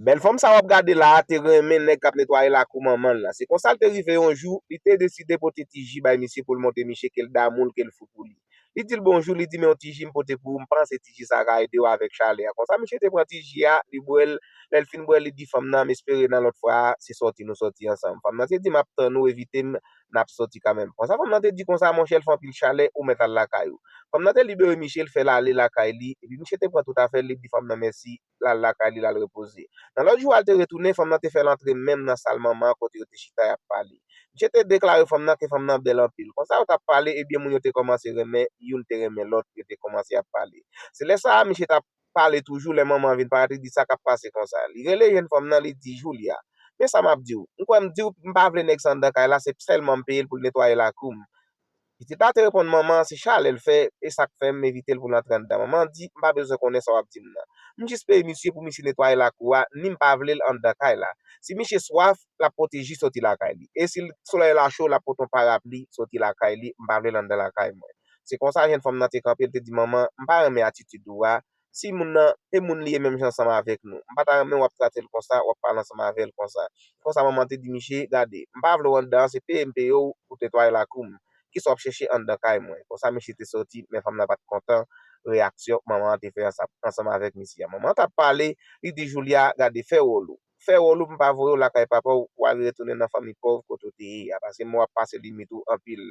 Bèl fanm sa w ap gade la a te renmen nèg k ap netwaye lakou manman l la. Se konsa l te rive yon jou, li te deside pote ti ji bay misye pou l montre miche ke l damou l, ke l fou pou li. Li di l bonjou, li di men yon ti ji m pote pou ou, m panse ti ji sa a ka ede w avèk chalè a. Konsa misye te pran ti ji a, li bwè l, lè l fin bwè l, li di fanm nan, m espere nan lòt fwa a, se sòti nou sòti ansanm. Fanm nan te di m ap tann ou, evite m, n ap sòti kanmenm. Konsa fanm nan te di konsa, monchè l fè anpil chalè, ou mèt al lakay ou. Fanm nan te libere miche, l fè l ale lakay li, epi miche te pran tout afè l, li di fanm nan mèsi. l al lakay li l al repoze. Nan lòt jou a l te retounen, fanm nan te fè l antre menm nan sal Manman an kote yo te chita y ap pale. Misye te deklare fanm nan ke fanm nan bèl anpil. Konsa yo t ap pale, ebyen moun yo te kòmanse renmen, youn te renmen lòt, yo te kòmanse ap pale. Se lè sa a misye t ap pale toujou lè Manman an vin parèt li di sa k ap pase konsa. Li rele jenn fanm nan li di, Julia, men sa m ap di w, m kwè m di w, m pa vle nèg san dan kay la, se sèlman m peye l pou l netwaye lakou m. Pitit la te reponn, Manman, se chalè l fè, e sa k fè m evite l pou l antre anndan. Manman an di, M pa bezwen konnen sa w ap di m nan. M jis peye misye pou misye netwaye lakou a, ni m pa vle l anndan kay la. Si misye swaf, l ap pote ji soti lakay li. E si solèy la cho, l ap pote yon parapli soti lakay li. M pa vle l anndan lakay mwen. Se konsa jèn fanm nan te kanpe, l te di, Manman, m pa renmen atitid ou a. si moun nan te moun li ye menm jan ansanm avèk nou. M pa ta renmen w ap trate l konsa, w ap pale ansanm avè l konsa. Se konsa manman an te di miche, Gade, m pa vle w anndan an, se peye m peye w pou w netwaye lakou m. Kisa w ap chèche anndan kay mwen? Konsa miche te soti, men fanm nan pa t kontan reyaksyon manman an te fè ansanm avèk misye a. Manman an t ap pale, li di Julia, Gade, fè wòl ou. Fè wòl ou pou m pa voye w lakay papa w pou w ale retounen nan fanmi pòv kote w te ye a, paske mwen w ap pase limit ou anpil.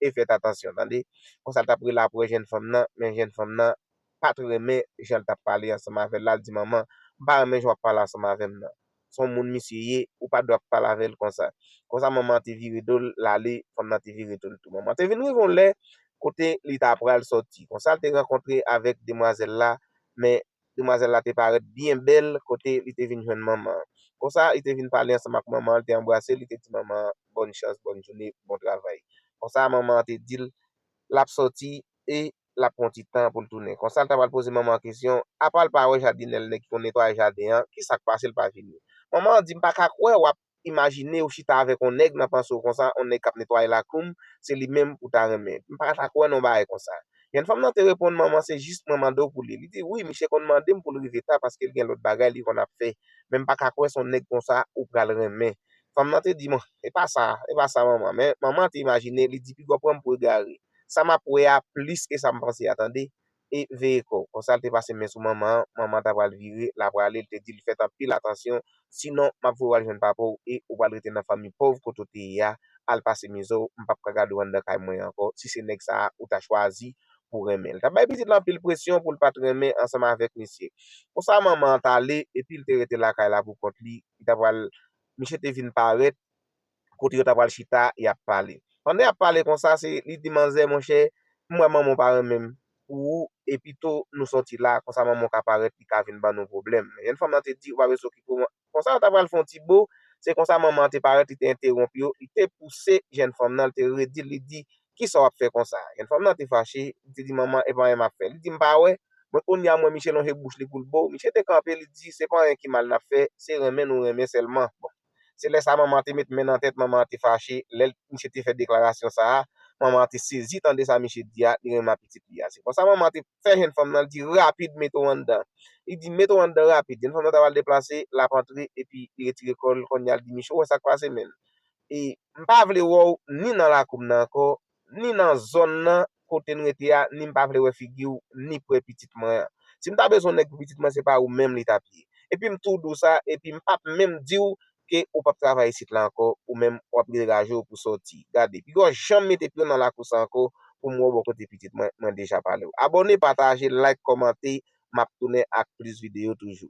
E fèt atansyon, tande! Konsa l t ap rele apre jèn fanm nan, men jèn fanm nan pat renmen jan l tap pale ansanm avè l la l di manman m pa renmen jan wap pale ansanm avè m nan s on moun misye ye ou pa dwe ap pale avè l konsa konsa manman an te vire do l l ale fanm nan te vire do l tou manman te vin rive yon lè kote li ta pral sòti konsa l te rankontre avèk demwazèl la men demwazèl la te parèt byen bèl kote li te vin jwenn manman an konsa li te vin pale ansanm ak manman an l te anbrase l li te di manman an bòn chans bòn joune bon travay konsa manman an te di l lap sòti e. l ap pran yon ti tan pou l tounen. Konsa l ta pral poze manman an kesyon, apa l pa wè jadinè l nèg ki konn netwaye jaden an, ki sa k pase l pa vini. Manman an di, m pa ka kwè w ap imajine ou chita avèk yon nèg nan panse w konsa, yon nèg k ap netwaye lakou m, se li menm ou ta renmen. M pa ta kwè nan yon bagay konsa. Jèn fanm nan te reponn, manman se jis mwen mande w pou li. Li di, wi, miche konn mande m pou l rive ta paske l gen lòt bagay li konn ap fè. Men m pa ka kwè se yon nèg konsa ou pral renmen. Fanm nan te di, bon, e pa sa, e pa sa manman. Men, manman an te imajine, li di, piga w pran m pou egare. Sa map wè a plis ke sa m panse a tande. E veye kò w. Konsa l te pase men sou manman an, manman an ta pral vire, la prale, l te di l fèt anpil atansyon, sinon map voye w al jwenn papa w e ou pral rete nan fanmi pòv kote w te ye a, al pase mizè w, m pap ka gade w anndan kay mwen ankò, si se nèg sa a ou ta chwazi pou w renmen. L tap bay pitit lan anpil presyon pou l pat renmen ansanm avèk misye. Konsa manman an t ale, epi l te rete lakay la pou kont li, li ta pral, misye te vin parèt, kote yo ta pral chita y ap pale. Pandan y ap pale konsa, se li di manzè, monchè, m wè manman w pa renmen m pou ou e pito nou sòti la, konsa manman w ka parèt li ka vin ban nou pwoblèm. Men jèn fanm lan te di, ou pa bezwen okipe w. Konsa yo ta pral fè yon ti bo, se konsa manman an te parèt li te entewonp yo, li te pouse jèn fanm lan, li te redi l, li di, kisa w ap fè konsa? Jèn fanm lan te fache, li te di, manman, e pa anyen m ap fè. Li di, m pa wè, mwen kounye a m wè miche lonje bouch li pou l bo w. Miche te kanpe, li di, se pa anyen ki mal n ap fè, se renmen nou renmen sèlman. Bon! Se lè sa Mama te met men nan tèt Mama te fache lè misye te fè deklarasyon sa a Mama te sezi tande sa misye di a li renmen ak pitit li a se konsa Mama te fè jenn fanm nan li di rapid mete w anndan li di mete w anndan rapid jenn fanm nan ta pral deplase l ap antre epi li retire kò l kounya li di misye ou wè sa k pase menm e m pa vle wè w ni nan lakou m nan ankò ni nan zòn nan kote n rete a ni m pa vle wè figi w ni pre pitit mwen an. Si m ta bezwen nèg pou pitit mwen se pa ou menm li t ap ye. Epi m tou di w sa epi m p ap menm di w ke ou p ap travay isit la ankò ou menm w ap degaje w pou sòti. Gade, pi gò janm mete pye w nan lakou sa ankò pou m wè w bò kote pitit mwen, mwen deja pale w. Abòne, pataje, like, kòmante, m ap tounen ak plis videyo toujou.